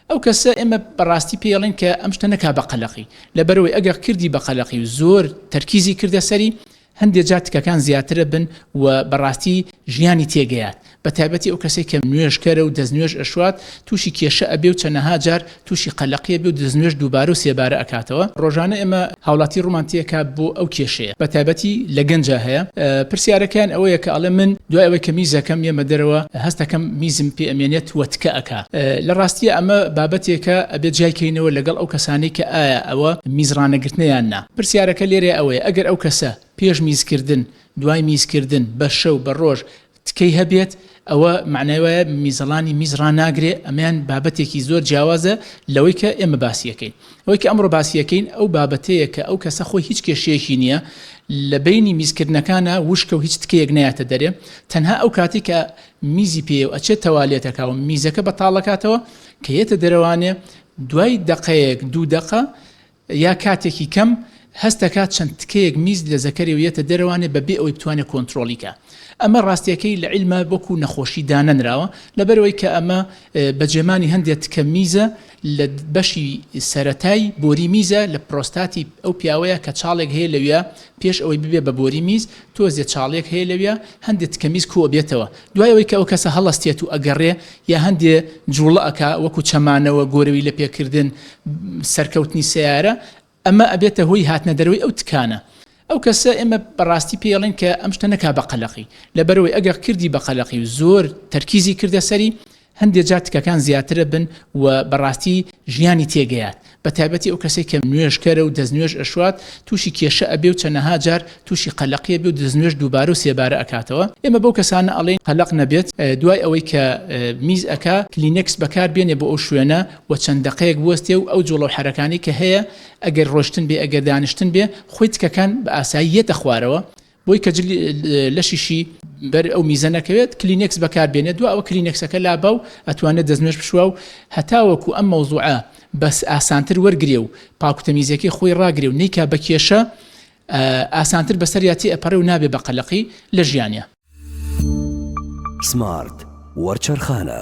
ئەو کەسە ئێمە بەڕاستی پێڵین کە ئەم شتە نەکا بە قەلەقی لەبەرەوەی ئەگەر کردی بە قەلەقی و زۆر تەرکیزی کردە سەری هەندێک جار تکەکان زیاترە بن و بەڕاستی ژیانی تێگەیات بە تایبەتی ئەو کەسێک کە نوێژکەرە و دەستنوێژ ئەشوات تووشی کێشە ئەبێ و چەنەها جار تووشی قەلەقیە بێ و دەستنوێژ دووبارە و سێبارە ئەکاتەوە ڕۆژانە ئێمە هاوڵاتی ڕومان تێکا بۆ ئەو کێشەیە بە تایبەتی لە گەنجا هەیە پرسیارەکەیان ئەوەیە کە ئەڵێ من دوای ئەوەی کە میزەکەم یەمە دەرەوە هەستەکەم میزم پێ ئەمێنێت وە تکە ئەکا لە ڕاستیە ئەمە بابەتێکە ئەبێ جیای کەینەوە لەگەڵ ئەو کەسانەی کە ئایا ئەوە میز ڕانەگرتنە یان نا پرسیارەکە لێرەیە ئەوەیە ئەگەر ئەو کەسە پێش میزکردن دوای میزکردن بە شەو بە ڕۆژ تکەی هەبێت ئەوە مەعنای وایە میزەڵانی میز ڕاناگرێ ئەمەیان بابەتێکی زۆر جیاوازە لەوەی کە ئێمە باسیەکەین ئەوەی کە ئەمڕۆ باسیەکەین ئەو بابەتەیە کە ئەو کەسە خۆی هیچ کێشەیەکی نییە لە بینی میزکردنەکانە وشکە و هیچ تکەیەک نایەتە دەرێ تەنها ئەو کاتی کە میزی پێ و ئەچێت تەوالێتەکە و میزەکە بەتاڵەکاتەوە کە یەتە دەرەوانێ دوای دەقەیەک دوو دەقە یا کاتێکی کەم هەست دەکات چەند تکەیەک میز لە زەکەرێ و یەتە دەرەوانێ بە بێ ئەوەی بتوانێ کۆنترۆڵی کا ئەمە ڕاستیەکەی لە عیلما وەکو نەخۆشی دانەنراوە لەبەرەوەی کە ئەمە بە جێمانی هەندێ تکە میزە لە بەشی سەرەتای بۆری میزە لە پرۆستاتی ئەو پیاوەیە کە چاڵێک هەیە لەویا پێش ئەوەی ببێ بە بۆری میز تۆزێ چاڵێک هەیە لەویا هەندێ تکە میز کۆ بێتەوە دوای ئەوەی کە ئەو کەسە هەڵەستێت و ئەگەڕێ یا هەندێ جووڵە ئەکا وەکو چەمانەوە، گۆرەوی لە پێکردن، سەرکەوتنی سەیارە، ئەمە ئەبێتە هۆی هاتنە دەرەوەی ئەو تکانە. ئەو کەسە ئێمە بە ڕاستی پێی ئەڵێن کە ئەم شتە نەکا بە قەلەقی، لەبەرئەوەی ئەگەر کردی بە قەلەقی و زۆر تەرکیزی کردە سەری، هەندێ جار تکەکان زیاترە بن و بەڕاستی ژیانی تێگەیات بەتایبەتی ئەو کەسێک کە نوێژکەرە و دەستنوێژ ئەشوات تووشی کێشە ئەبێ و چەنەها جار تووشی قەلەقیە بێ و دەستنوێژ دووبارە و سێبارە ئەکاتەوە ئێمە بەو کەسانە ئەڵێن قەلەق نەبێت دوای ئەوەی کە میز ئەکا کلینێکس بەکار بێنێ بۆ ئەو شوێنە و چەند دەقەیەک بوەستێ و ئەو جوڵە و حەرەکانەی کە هەیە ئەگەر ڕۆشتن بێ ئەگەر دانیشتن بێ خۆی تکەکان بە ئاسایی یەتە خوارەوە بۆی کە جلی لەشیشی بەر ئەو میزە نەکەوێت کلینێکس بەکار بێنێت دو ئەوە کلینێکسەکە لابا و ئەتوانێت دەستنوێش بشوا و هەتاوەکو ئەم مەوزوعە بەس ئاسانتر وەرگێ و پاکوتەمیزەکەی خۆی ڕاگرێ و نیکا بە کێشە ئاسانتر بەسەریاتی ئەپەڕێ و نابێ بە قەلەقی لە ژیانە. سمارت وەرچەرخانە.